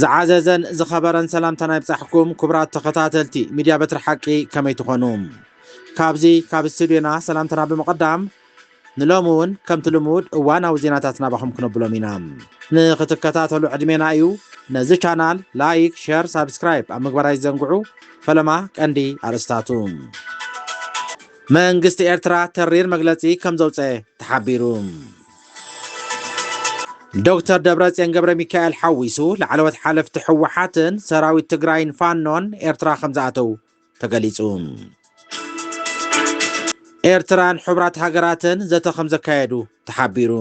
ዝዓዘዘን ዝኸበረን ሰላምታና ይብጻሕኩም ክቡራት ተኸታተልቲ ሚድያ በትሪ ሓቂ ከመይ ትኾኑ ካብዚ ካብ ስቱድዮና ሰላምታና ብምቕዳም ንሎሚ እውን ከምቲ ልሙድ እዋናዊ ዜናታት ናባኹም ክነብሎም ኢና። ንኽትከታተሉ ዕድሜና እዩ። ነዚ ቻናል ላይክ፣ ሸር፣ ሳብስክራይብ ኣብ ምግባር ኣይትዘንግዑ። ፈለማ ቀንዲ ኣርእስታቱ። መንግስቲ ኤርትራ ተሪር መግለጺ ከም ዘውጸ ተሓቢሩ። ዶክተር ደብረጽዮን ገብረሚካኤል ሓዊሱ ላዕለዎት ሓለፍቲ ህወሓትን ሰራዊት ትግራይን ፋኖን ኤርትራ ከም ዝኣተው ተገሊጹ። ኤርትራን ሕቡራት ሃገራትን ዘተ ከም ዘካየዱ ተሓቢሩ።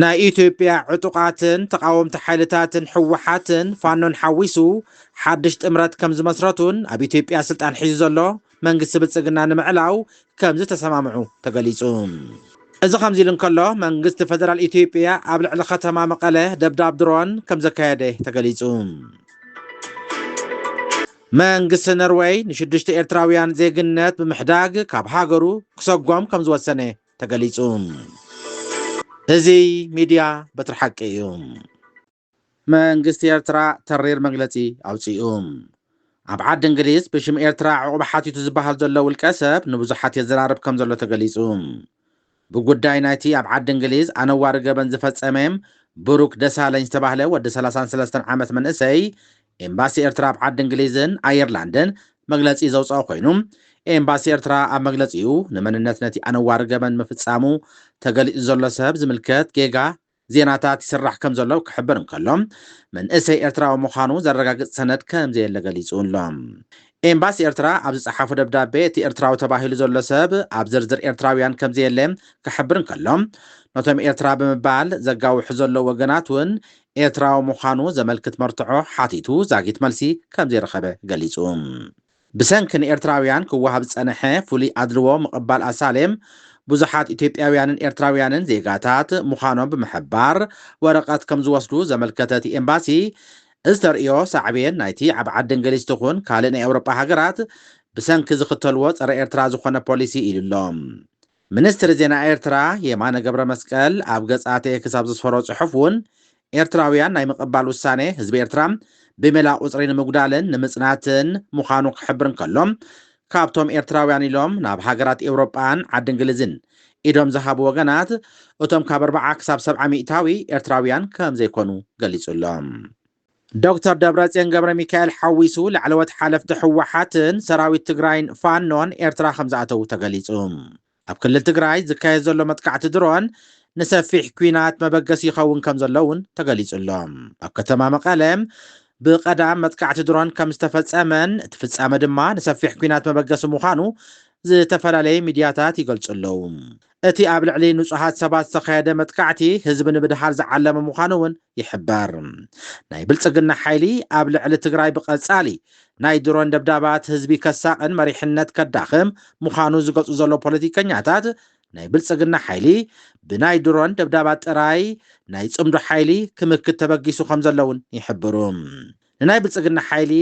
ናይ ኢትዮጵያ ዕጡቓትን ተቓወምቲ ሓይልታትን ህወሓትን ፋኖን ሓዊሱ ሓድሽ ጥምረት ከም ዝመስረቱን ኣብ ኢትዮጵያ ስልጣን ሒዙ ዘሎ መንግስቲ ብልፅግና ንምዕላው ከምዝተሰማምዑ ተገሊፁ። እዚ ከምዚ ኢሉ እንከሎ መንግስቲ ፌደራል ኢትዮጵያ ኣብ ልዕሊ ከተማ መቐለ ደብዳብ ድሮን ከምዘካየደ ተገሊፁ። መንግስቲ ኖርወይ ንሽዱሽተ ኤርትራውያን ዜግነት ብምሕዳግ ካብ ሃገሩ ክሰጎም ከምዝወሰነ ተገሊፁ። እዚ ሚድያ በትሪ ሓቂ እዩ። መንግስቲ ኤርትራ ተሪር መግለጺ ኣውጺኡ። ኣብ ዓዲ እንግሊዝ ብሽም ኤርትራ ዑቕባ ሓቲቱ ዝበሃል ዘሎ ውልቀ ሰብ ንብዙሓት የዘራርብ ከም ዘሎ ተገሊጹ። ብጉዳይ ናይቲ ኣብ ዓዲ እንግሊዝ ኣነዋሪ ገበን ዝፈጸመ ብሩክ ደሳለኝ ዝተባህለ ወዲ ሰላሳን ሰለስተን ዓመት መንእሰይ ኤምባሲ ኤርትራ ኣብ ዓዲ እንግሊዝን ኣየርላንድን መግለጺ ዘውጸኦ ኮይኑ ኤምባሲ ኤርትራ ኣብ መግለጺኡ ንመንነት ነቲ ኣነዋሪ ገበን ምፍጻሙ ተገሊጹ ዘሎ ሰብ ዝምልከት ጌጋ ዜናታት ይስራሕ ከም ዘሎ ክሕብር እንከሎ፣ መንእሰይ ኤርትራዊ ምዃኑ ዘረጋግጽ ሰነድ ከም ዘየለ ገሊጹ ኣሎ። ኤምባሲ ኤርትራ ኣብ ዝጸሓፎ ደብዳቤ፣ እቲ ኤርትራዊ ተባሂሉ ዘሎ ሰብ ኣብ ዝርዝር ኤርትራውያን ከም ዘየለ ክሕብር እንከሎ፣ ነቶም ኤርትራ ብምባል ዘጋውሑ ዘለዉ ወገናት እውን ኤርትራዊ ምዃኑ ዘመልክት መርትዖ ሓቲቱ ዛጊት መልሲ ከም ዘይረኸበ ገሊጹ። ብሰንኪ ንኤርትራውያን ክወሃብ ዝጸነሐ ፍሉይ ኣድልዎ ምቕባል ኣሳሌም ብዙሓት ኢትዮጵያውያንን ኤርትራውያንን ዜጋታት ምዃኖም ብምሕባር ወረቐት ከም ዝወስዱ ዘመልከተ እቲ ኤምባሲ፣ እዚ ተርእዮ ሳዕቤን ናይቲ ኣብ ዓዲ እንግሊዝ ትኹን ካልእ ናይ ኤውሮጳ ሃገራት ብሰንኪ ዝኽተልዎ ጸረ ኤርትራ ዝኾነ ፖሊሲ ኢሉ'ሎ። ሚኒስትሪ ዜና ኤርትራ የማነ ገብረመስቀል ኣብ ገጻት ኤክስ ኣብ ዘስፈሮ ጽሑፍ እውን፣ ኤርትራውያን ናይ ምቕባል ውሳኔ ህዝቢ ኤርትራ ብሜላ ቁጽሪ ንምጉዳልን ንምጽናትን ምዃኑ ክሕብር እንከሎ፣ ካብቶም ኤርትራውያን ኢሎም ናብ ሃገራት ኤውሮጳን ዓዲ እንግሊዝን ኢዶም ዝሃቡ ወገናት እቶም ካብ ኣርብዓ ክሳብ ሰብዓ ሚእታዊ ኤርትራውያን ከምዘይኮኑ ገሊጹ ኣሎ። ዶክተር ደብረፅዮን ገብረሚካኤል ሓዊሱ ላዕለዎት ሓለፍቲ ህወሓትን ሰራዊት ትግራይን ፋኖን ኤርትራ ከምዝኣተዉ ተገሊፁ። ኣብ ክልል ትግራይ ዝካየድ ዘሎ መጥቃዕቲ ድሮን ንሰፊሕ ኲናት መበገሲ ይኸውን ከምዘሎ እውን ተገሊፁ'ሎ። ኣብ ከተማ መቐለ ብቀዳም መጥቃዕቲ ድሮን ከምዝተፈፀመን እቲ ፍፃመ ድማ ንሰፊሕ ኲናት መበገሲ ምዃኑ ዝተፈላለዩ ሚድያታት ይገልፁ ኣለው። እቲ ኣብ ልዕሊ ንፁሃት ሰባት ዝተኻየደ መጥቃዕቲ ህዝቢ ንምድሃል ዝዓለመ ምዃኑ እውን ይሕበር። ናይ ብልፅግና ሓይሊ ኣብ ልዕሊ ትግራይ ብቐፃሊ ናይ ድሮን ደብዳባት ህዝቢ ከሳቕን መሪሕነት ከዳኽም ምዃኑ ዝገልፁ ዘለዉ ፖለቲከኛታት ናይ ብልፅግና ሓይሊ ብናይ ድሮን ደብዳባት ጥራይ ናይ ፅምዶ ሓይሊ ክምክት ተበጊሱ ከምዘሎ እውን ይሕብሩ። ንናይ ብልፅግና ሓይሊ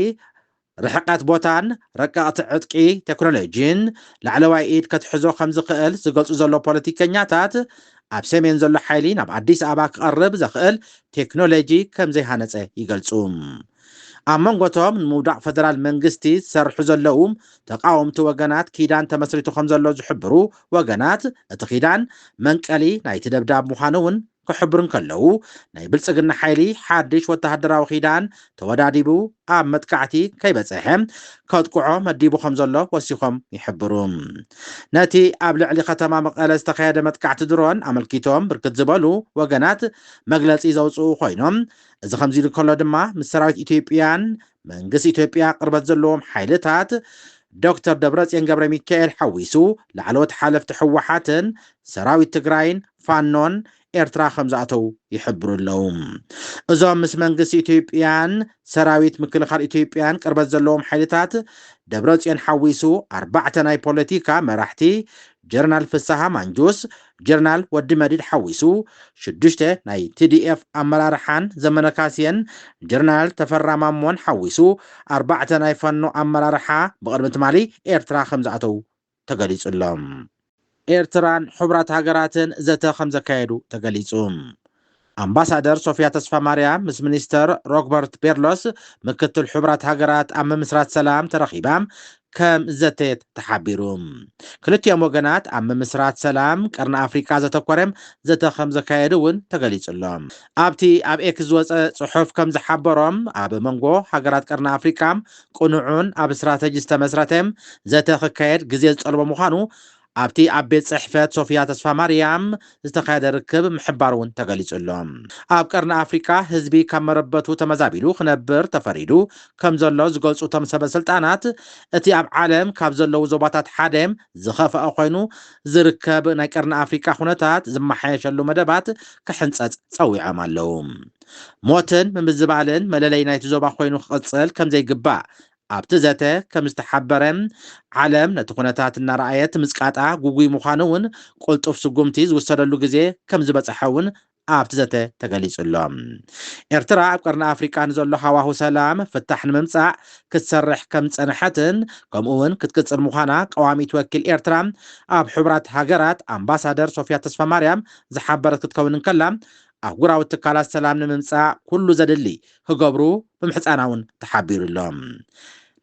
ርሕቀት ቦታን ረቀቕቲ ዕጥቂ ቴክኖሎጂን ላዕለዋይ ኢድ ከትሕዞ ከምዝኽእል ዝገልጹ ዘለዉ ፖለቲከኛታት፣ ኣብ ሰሜን ዘሎ ሓይሊ ናብ ኣዲስ ኣበባ ክቐርብ ዘኽእል ቴክኖሎጂ ከምዘይሃነጸ ይገልጹ። ኣብ መንጎ'ቶም ንምውዳቕ ፈደራል መንግስቲ ዝሰርሑ ዘለዉ ተቓወምቲ ወገናት ኪዳን ተመስሪቱ ከምዘሎ ዝሕብሩ ወገናት፣ እቲ ኪዳን መንቀሊ ናይቲ ደብዳብ ምዃኑ'ውን ክሕብሩ እንከለዉ፣ ናይ ብልጽግና ሓይሊ ሓድሽ ወተሃደራዊ ኪዳን ተወዳዲቡ ኣብ መጥቃዕቲ ከይበጸሐ ከጥቅዖ መዲቡ ከምዘሎ ወሲኾም ይሕብሩ። ነቲ ኣብ ልዕሊ ከተማ መቐለ ዝተኸየደ መጥቃዕቲ ድሮን ኣመልኪቶም ብርክት ዝበሉ ወገናት መግለጺ ዘውጽኡ ኮይኖም፣ እዚ ከምዚሉ ከሎ ድማ ምስ ሰራዊት ኢትዮጵያን መንግስቲ ኢትዮጵያ ቅርበት ዘለዎም ሓይልታት ዶክተር ደብረፅዮን ገብረሚካኤል ሓዊሱ ላዕለዎት ሓለፍቲ ህወሓትን ሰራዊት ትግራይን ፋኖን ኤርትራ ከምዝኣተው ይሕብሩ ኣለው። እዞም ምስ መንግስቲ ኢትዮጵያን ሰራዊት ምክልኻል ኢትዮጵያን ቅርበት ዘለዎም ሓይልታት ደብረፅዮን ሓዊሱ ኣርባዕተ ናይ ፖለቲካ መራሕቲ ጀነራል ፍስሃ ማንጁስ፣ ጀርናል ወዲ መዲድ ሓዊሱ ሽዱሽተ ናይ tdf ኣመራርሓን ዘመነ ካሴን ጀርናል ተፈራ ማሞን ሓዊሱ ኣርባዕተ ናይ ፋኖ ኣመራርሓ ብቕድሚ ትማሊ ኤርትራ ከምዝኣተው ተገሊጹ ኣሎ። ኤርትራን ሕቡራት ሃገራትን ዘተ ከምዘካየዱ ተገሊጹ። ኣምባሳደር ሶፍያ ተስፋማርያም ምስ ሚኒስተር ሮግበርት ቤርሎስ ምክትል ሕቡራት ሃገራት ኣብ ምምስራት ሰላም ተረኺባ ከም ዘተየት ተሓቢሩ። ክልቲኦም ወገናት ኣብ ምምስራት ሰላም ቀርኒ ኣፍሪቃ ዘተኮረ ዘተ ከም ዘካየዱ እውን ተገሊጹ'ሎ። ኣብቲ ኣብ ኤክስ ዝወጸ ጽሑፍ ከም ዝሓበሮ፣ ኣብ መንጎ ሃገራት ቀርኒ ኣፍሪቃ ቅኑዕን ኣብ ስትራተጂ ዝተመስረተ ዘተ ክካየድ ግዜ ዝጠልቦ ምዃኑ ኣብቲ ኣብ ቤት ፅሕፈት ሶፍያ ተስፋማርያም ዝተኻየደ ርክብ ምሕባሩ እውን ተገሊፁ ኣሎ። ኣብ ቀርኒ ኣፍሪካ ህዝቢ ካብ መረበቱ ተመዛቢሉ ክነብር ተፈሪዱ ከምዘሎ ዝገልፁ እቶም ሰበስልጣናት እቲ ኣብ ዓለም ካብ ዘለዉ ዞባታት ሓደ ዝኸፈኣ ኮይኑ ዝርከብ ናይ ቀርኒ ኣፍሪካ ኩነታት ዝመሓየሸሉ መደባት ክሕንፀፅ ፀዊዖም ኣለው። ሞትን ምምዝባልን መለለይ ናይቲ ዞባ ኮይኑ ክቕፅል ከምዘይግባእ ኣብቲ ዘተ ከም ዝተሓበረ፣ ዓለም ነቲ ኩነታት እናረኣየት ምጽቃጣ ግጉይ ምዃኑ'ውን ቅልጡፍ ስጉምቲ ዝውሰደሉ ግዜ ከም ዝበጸሐ'ውን ኣብቲ ዘተ ተገሊጹ ኣሎ። ኤርትራ ኣብ ቀርኒ ኣፍሪቃ ንዘሎ ሃዋሁ ሰላም ፍታሕ ንምምጻእ ክትሰርሕ ከም ዝጸንሐትን ከምኡ'ውን ክትቅጽል ምዃና ቀዋሚት ወኪል ኤርትራ ኣብ ሕቡራት ሃገራት ኣምባሳደር ሶፍያ ተስፋማርያም ዝሓበረት ክትከውን እንከላ ኣህጉራዊ ትካላት ሰላም ንምምጻእ ኩሉ ዘድሊ ክገብሩ ምምሕጻና እውን ተሓቢሩ ኣሎ።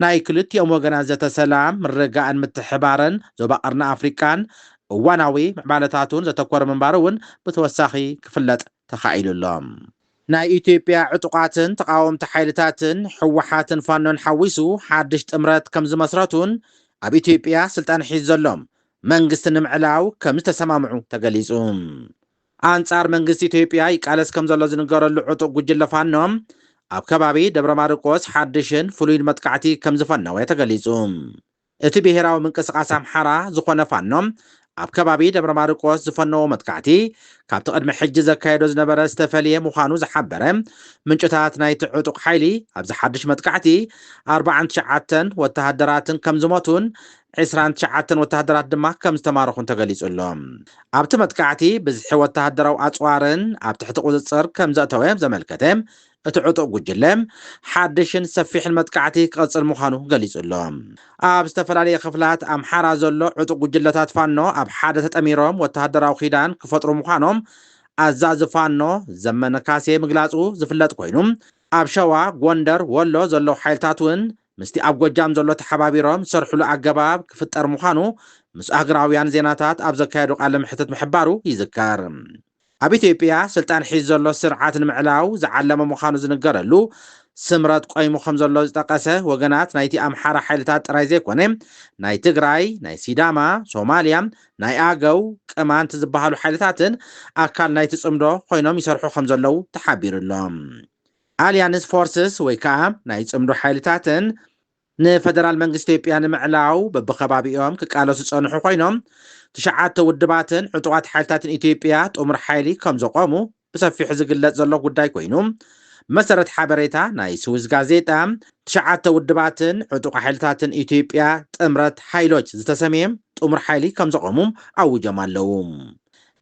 ናይ ክልቲኦም ወገናት ዘተ ሰላም፣ ምርግጋእን ምትሕብባርን ዞባ ቀርኒ ኣፍሪቃን እዋናዊ ምዕባለታቱን ዘተኮረ ምንባሩ እውን ብተወሳኺ ክፍለጥ ተኻኢሉ ኣሎ። ናይ ኢትዮጵያ ዕጡቓትን ተቓወምቲ ሓይልታትን፣ ህወሓትን ፋኖን ሓዊሱ ሓድሽ ጥምረት ከምዝመስረቱን ኣብ ኢትዮጵያ ስልጣን ሒዙ ዘሎ መንግስቲ ንምዕላው ከምዝተሰማምዑ ተገሊፁ። ኣንጻር መንግስቲ ኢትዮጵያ ይቃለስ ከምዘሎ ዝንገረሉ ዕጡቕ ጉጅለ ፋኖ፣ ኣብ ከባቢ ደብረማርቆስ ሓድሽን ፍሉይን መጥቃዕቲ ከምዝፈነወ ተገሊጹ። እቲ ብሄራዊ ምንቅስቓስ ኣምሓራ ዝኾነ ፋኖ ኣብ ከባቢ ደብረማርቆስ ዝፈነዎ መጥቃዕቲ ካብቲ ቅድሚ ሕጂ ዘካየዶ ዝነበረ ዝተፈልየ ምዃኑ ዝሓበረ ምንጭታት ናይቲ ዕጡቕ ሓይሊ ኣብዚ ሓድሽ መጥቃዕቲ ኣርብዓን ትሽዓተን ወተሃደራትን ከምዝሞቱን ዕስራን ትሽዓተን ወተሃደራት ድማ ከም ዝተማረኹን ተገሊጹ ኣሎ። ኣብቲ መጥቃዕቲ ብዝሒ ወተሃደራዊ ኣጽዋርን ኣብ ትሕቲ ቁጽጽር ከም ዘእተወ ዘመልከተ እቲ ዕጡቕ ጉጅለ፣ ሓድሽን ሰፊሕን መጥቃዕቲ ክቕጽል ምዃኑ ገሊጹ ኣሎ። ኣብ ዝተፈላለየ ክፍላት ኣምሓራ ዘሎ ዕጡቕ ጉጅለታት ፋኖ ኣብ ሓደ ተጠሚሮም ወተሃደራዊ ኪዳን ክፈጥሩ ምዃኖም ኣዛዚ ፋኖ ዘመነ ካሴ ምግላጹ ዝፍለጥ ኮይኑ፣ ኣብ ሸዋ፣ ጎንደር፣ ወሎ ዘለዉ ሓይልታት'ውን ምስቲ ኣብ ጎጃም ዘሎ ተሓባቢሮም ዝሰርሕሉ ኣገባብ ክፍጠር ምዃኑ ምስ ኣህግራውያን ዜናታት ኣብ ዘካየዶ ቃለ መሕትት ምሕባሩ ይዝከር። ኣብ ኢትዮጵያ ስልጣን ሒዙ ዘሎ ስርዓት ንምዕላው ዝዓለመ ምዃኑ ዝንገረሉ ስምረት ቆይሙ ከምዘሎ ዝጠቀሰ ወገናት ናይቲ ኣምሓራ ሓይልታት ጥራይ ዘይኮነ ናይ ትግራይ፣ ናይ ሲዳማ፣ ሶማሊያ፣ ናይ ኣገው፣ ቅማንት ዝበሃሉ ሓይልታትን ኣካል ናይቲ ፅምዶ ኮይኖም ይሰርሑ ከምዘለው ተሓቢሩ'ሎ። ኣልያንስ ፎርስስ ወይ ከኣ ናይ ጽምዶ ሓይልታትን ንፈደራል መንግስቲ ኢትዮጵያ ንምዕላው በብከባቢኦም ክቃለሱ ዝጸንሑ ኮይኖም፣ ትሽዓተ ውድባትን ዕጡቓት ሓይልታትን ኢትዮጵያ ጥሙር ሓይሊ ከም ዘቖሙ ብሰፊሑ ዝግለጽ ዘሎ ጉዳይ ኮይኑ፣ ብመሰረት ሓበሬታ ናይ ስዊዝ ጋዜጣ፣ ትሽዓተ ውድባትን ዕጡቕ ሓይልታትን ኢትዮጵያ ጥምረት ሓይሎች ዝተሰምየ ጥሙር ሓይሊ ከም ዘቖሙ ኣዊጆም ኣለዉ።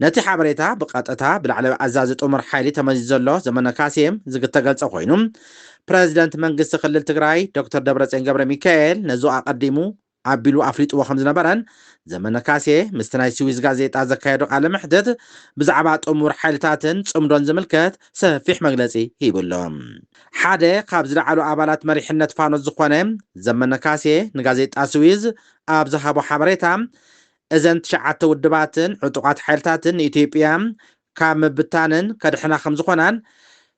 ነቲ ሓበሬታ ብቐጥታ ብላዕለዋይ ኣዛዚ ጥሙር ሓይሊ ተመዚዙ ዘሎ ዘመነ ካሴ ዝግተገልጸ ኮይኑ፣ ፕረዚደንት መንግስቲ ክልል ትግራይ ዶክተር ደብረጽዮን ገብረሚካኤል ነዙ ኣቐዲሙ ኣቢሉ ኣፍሊጥዎ ከምዝነበረን ዘመነ ካሴ ምስቲ ናይ ስዊዝ ጋዜጣ ዘካየዶ ቃለ መሕትት ብዛዕባ ጥሙር ሓይልታትን ጽምዶን ዝምልከት ሰፊሕ መግለጺ ሂቡ ኣሎ። ሓደ ካብ ዝለዓሉ ኣባላት መሪሕነት ፋኖ ዝኾነ ዘመነ ካሴ ንጋዜጣ ስዊዝ ኣብ ዝሃቦ ሓበሬታ እዘን ትሽዓተ ውድባትን ዕጡቓት ሓይልታትን ንኢትዮጵያ ካብ ምብታንን ከድሕና ከምዝኾናን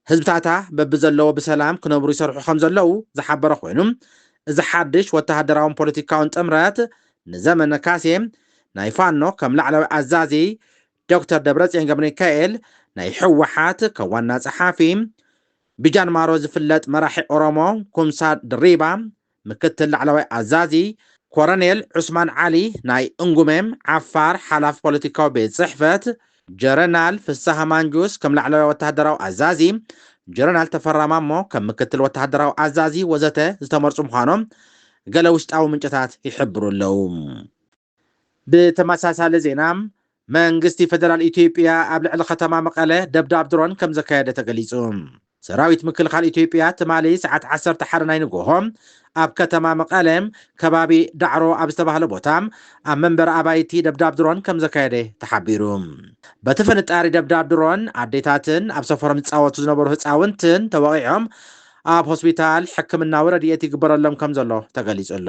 ህዝብታታ በብዘለዎ ብሰላም ክነብሩ ይሰርሑ ከምዘለዉ ዝሓበረ ኮይኑ እዚ ሓድሽ ወተሃደራውን ፖለቲካውን ጥምረት ንዘመነ ካሴ ናይ ፋኖ ከም ላዕለዋይ ኣዛዚ፣ ዶክተር ደብረጽዮን ገብረሚካኤል ናይ ህወሓት ከም ዋና ጸሓፊ፣ ብጃንማሮ ዝፍለጥ መራሒ ኦሮሞ ኩምሳ ድሪባ ምክትል ላዕለዋይ ኣዛዚ ኮረኔል ዑስማን ዓሊ፣ ናይ እንጉሜም፣ ዓፋር፣ ሓላፊ ፖለቲካዊ ቤት ጽሕፈት፣ ጀረናል ፍሳሃ ማንጁስ ከም ላዕለዋይ ወተሃደራዊ ኣዛዚ፣ ጀረናል ተፈራ ማሞ ከም ምክትል ወተሃደራዊ ኣዛዚ ወዘተ ዝተመርጹ ምዃኖም ገለ ውሽጣዊ ምንጭታት ይሕብሩ ኣለዉ። ብተመሳሳሊ ዜና መንግስቲ ፌደራል ኢትዮጵያ ኣብ ልዕሊ ከተማ መቐለ ደብዳብ ድሮን ከምዘካየደ ተገሊፁ። ሰራዊት ምክልኻል ኢትዮጵያ ትማሊ ሰዓት ዓሰርተ ሓደ ናይ ንጎሆ ኣብ ከተማ መቐለ ከባቢ ዳዕሮ ኣብ ዝተባህለ ቦታ ኣብ መንበሪ ኣባይቲ ደብዳብ ድሮን ከምዘካየደ ተሓቢሩ። በቲ ፍንጣሪ ደብዳብ ድሮን ኣዴታትን ኣብ ሰፈሮም ዝፃወቱ ዝነበሩ ህፃውንትን ተወቒዖም ኣብ ሆስፒታል ሕክምናዊ ረድኤት ይግበረሎም ከምዘሎ ተገሊፁ ኣሎ።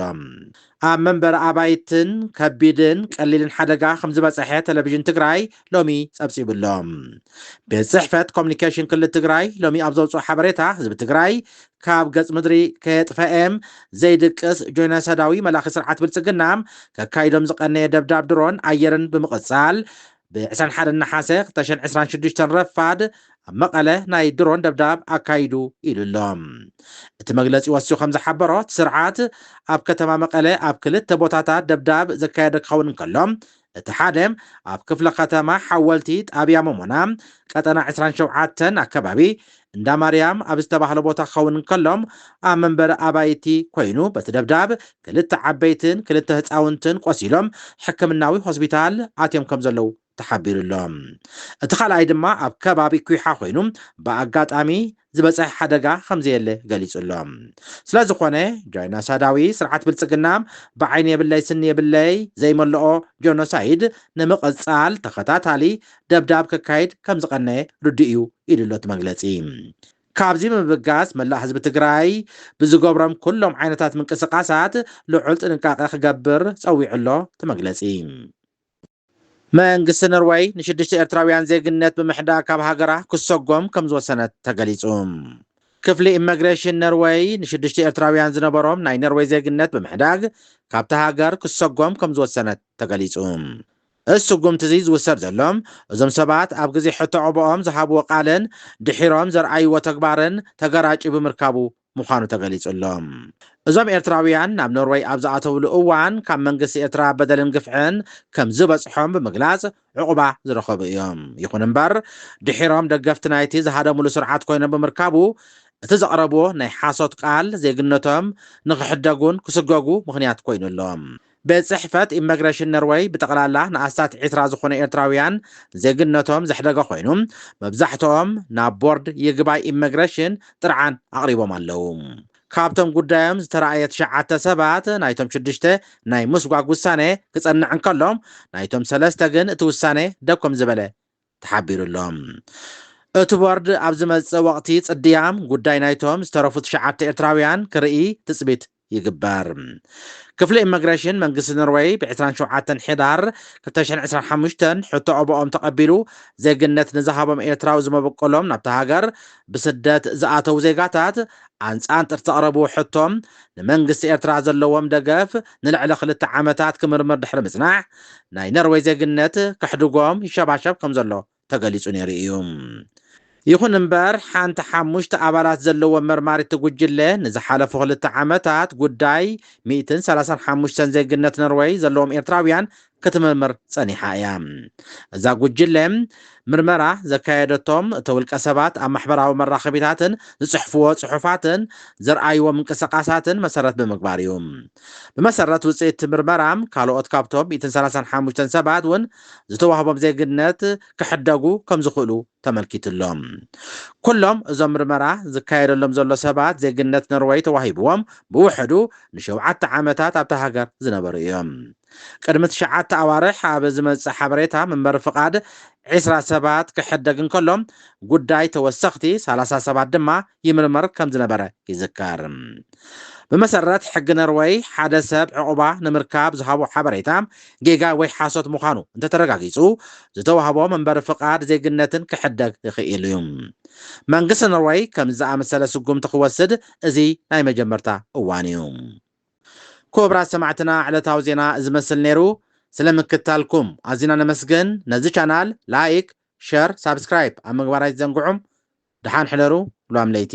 ኣብ መንበሪ ኣባይትን ከቢድን ቀሊልን ሓደጋ ከምዝበፀሐ ቴሌቪዥን ትግራይ ሎሚ ፀብፂቡ ኣሎ። ቤት ፅሕፈት ኮሚኒኬሽን ክልል ትግራይ ሎሚ ኣብ ዘውፅኦ ሓበሬታ ህዝቢ ትግራይ ካብ ገፅ ምድሪ ከየጥፈኤም ዘይድቅስ ጆይነሰዳዊ መላኺ ስርዓት ብልፅግና ከካይዶም ዝቐነየ ደብዳብ ድሮን ኣየርን ብምቕፃል ብ ዕስራን ሓደን ነሓሰ ክልተ ሽሕን ዕስራን ሽዱሽተን ረፋድ ኣብ መቐለ ናይ ድሮን ደብዳብ ኣካይዱ ኢሉ ኣሎ። እቲ መግለጺ ወሲኹ ከም ዝሓበሮ፣ እቲ ስርዓት ኣብ ከተማ መቐለ ኣብ ክልተ ቦታታት ደብዳብ ዘካየደ ክኸውን እንከሎ፣ እቲ ሓደ ኣብ ክፍለ ከተማ ሓወልቲ ጣብያ ሞሞና ቀጠና ዕስራን ሸውዓተን ኣከባቢ እንዳ ማርያም ኣብ ዝተባህለ ቦታ ክኸውን እንከሎ፣ ኣብ መንበሪ ኣባይቲ ኮይኑ በቲ ደብዳብ ክልተ ዓበይትን ክልተ ህጻውንትን ቆሲሎም ሕክምናዊ ሆስፒታል ኣትዮም ከምዘለዉ ተሓቢሩ'ሎ። እቲ ካልኣይ ድማ ኣብ ከባቢ ኲሓ ኮይኑ ብኣጋጣሚ ዝበጸሐ ሓደጋ ከምዘየለ ገሊጹ'ሎ። ስለዝኾነ ጃይናሳዳዊ ስርዓት ብልጽግና ብዓይኒ የብለይ ስኒ የብለይ ዘይመልኦ ጆኖሳይድ ንምቕጻል ተኸታታሊ ደብዳብ ከካይድ ከምዝቐነየ ርዱእ እዩ ኢሉ'ሎ እቲ መግለፂ። ካብዚ ብምብጋስ መላእ ህዝቢ ትግራይ ብዝገብሮም ኩሎም ዓይነታት ምንቅስቓሳት ልዑል ጥንቃቐ ክገብር ፀዊዑ'ሎ እቲ መግለፂ። መንግስቲ ኖርወይ ንሽዱሽተ ኤርትራውያን ዜግነት ብምሕዳግ ካብ ሃገራ ክሰጎም ከምዝወሰነት ተገሊፁ። ክፍሊ ኢመግሬሽን ኖርወይ ንሽዱሽተ ኤርትራውያን ዝነበሮም ናይ ኖርወይ ዜግነት ብምሕዳግ ካብታ ሃገር ክሰጎም ከምዝወሰነት ተገሊፁ። እዚ ስጉምቲ'ዚ ዝውሰድ ዘሎ፣ እዞም ሰባት ኣብ ግዜ ሕቶ ኦቦኦም ዝሃብዎ ቃልን ድሒሮም ዘርኣይዎ ተግባርን ተገራጭዩ ብምርካቡ ምዃኑ ተገሊጹ'ሎ። እዞም ኤርትራውያን ናብ ኖርወይ ኣብ ዝኣተውሉ እዋን ካብ መንግስቲ ኤርትራ በደልን ግፍዕን ከምዝበጽሖም ብምግላጽ ዑቕባ ዝረኸቡ እዮም። ይኹን'ምበር ድሒሮም ደገፍቲ ናይቲ ዝሃደምሉ ስርዓት ኮይኖም ብምርካቡ እቲ ዘቕረብዎ ናይ ሓሶት ቃል ዜግነቶም ንኽሕደጉን ክስጎጉ ምኽንያት ኮይኑ ኣሎ። ቤት ጽሕፈት ኢመግረሽን ነርወይ ብጠቕላላ ንኣስታት ዕስራ ዝኾኑ ኤርትራውያን ዜግነቶም ዘሕደገ ኮይኑ መብዛሕትኦም ናብ ቦርድ ይግባይ ኢመግረሽን ጥርዓን ኣቕሪቦም ኣለዉ። ካብቶም ጉዳዮም ዝተራእየ ትሽዓተ ሰባት ናይቶም ሽዱሽተ ናይ ምስጓግ ውሳኔ ክጸንዕ እንከሎ ናይቶም ሰለስተ ግን እቲ ውሳኔ ደው ከምዝበለ ተሓቢሩ ኣሎ። እቲ ቦርድ ኣብ ዝመጽእ ወቕቲ ጽድያ ጉዳይ ናይቶም ዝተረፉ ትሽዓተ ኤርትራውያን ክርኢ ትጽቢት ይግበር። ክፍሊ ኢመግሬሽን መንግስቲ ኖርወይ ብ ዕስራን ሸውዓተን ሕዳር ክልተ ሽሕን ዕስራን ሓሙሽተን ሕቶ ኣበኦም ተቐቢሉ ዜግነት ንዝሃቦም ኤርትራዊ ዝመበቆሎም ናብታ ሃገር ብስደት ዝኣተዉ ዜጋታት ኣንጻንጥር ዘቕረብዎ ሕቶ ንመንግስቲ ኤርትራ ዘለዎም ደገፍ ንልዕሊ ክልተ ዓመታት ክምርምር ድሕሪ ምጽናሕ ናይ ኖርወይ ዜግነት ከሕድጎም ይሸባሸብ ከምዘሎ ተገሊጹ ነይሩ እዩ። ይኹን እምበር ሓንቲ ሓሙሽተ ኣባላት ዘለዎ መርማሪቲ ጉጅለ ንዝሓለፉ ክልተ ዓመታት ጉዳይ ሚእትን ሰላሳን ሓሙሽተን ዜግነት ኖርወይ ዘለዎም ኤርትራውያን ክትምርምር ጸኒሓ እያ። እዛ ጉጅለ ምርመራ ዘካየደቶም እቶ ውልቀ ሰባት ኣብ ማሕበራዊ መራኸቢታትን ዝጽሕፍዎ ጽሑፋትን ዘርኣይዎ ምንቅስቓሳትን መሰረት ብምግባር እዩ። ብመሰረት ውጽኢት እቲ ምርመራ ካልኦት ካብቶም ሚእትን ሰላሳን ሓሙሽተን ሰባት እውን ዝተዋህቦም ዜግነት ክሕደጉ ከምዝኽእሉ ተመልኪቱ'ሎ። ኩሎም እዞም ምርመራ ዝካየደሎም ዘሎ ሰባት ዜግነት ኖርወይ ተዋሂብዎም ብውሕዱ ንሸውዓተ ዓመታት ኣብታ ሃገር ዝነበሩ እዮም። ቅድሚ ትሽዓተ ኣዋርሕ ኣብ ዝመጽእ ሓበሬታ መንበሪ ፍቓድ ዒስራ ሰባት ክሕደግ እንከሎ ጉዳይ ተወሰኽቲ ሰላሳ ሰባት ድማ ይምርመር ከም ዝነበረ ይዝከር። ብመሰረት ሕጊ ነርወይ፣ ሓደ ሰብ ዕቝባ ንምርካብ ዝሃቦ ሓበሬታ ጌጋ ወይ ሓሶት ምዃኑ እንተ ተረጋጊጹ፣ ዝተዋህቦ መንበሪ ፍቓድ ዜግነትን ክሕደግ ይኽእል እዩ። መንግስቲ ነርወይ ከምዚ ዝኣመሰለ ስጕምቲ ክወስድ እዚ ናይ መጀመርታ እዋን እዩ። ኩቡራት ሰማዕትና ዕለታዊ ዜና እዚ መስል ነይሩ። ስለ ምክትታልኩም ኣዚና ነመስግን። ነዚ ቻናል ላይክ፣ ሸር ሳብስክራይብ ኣብ ምግባር ኣይትዘንግዑ ድሓን ሕደሩ ሏም ለይቲ።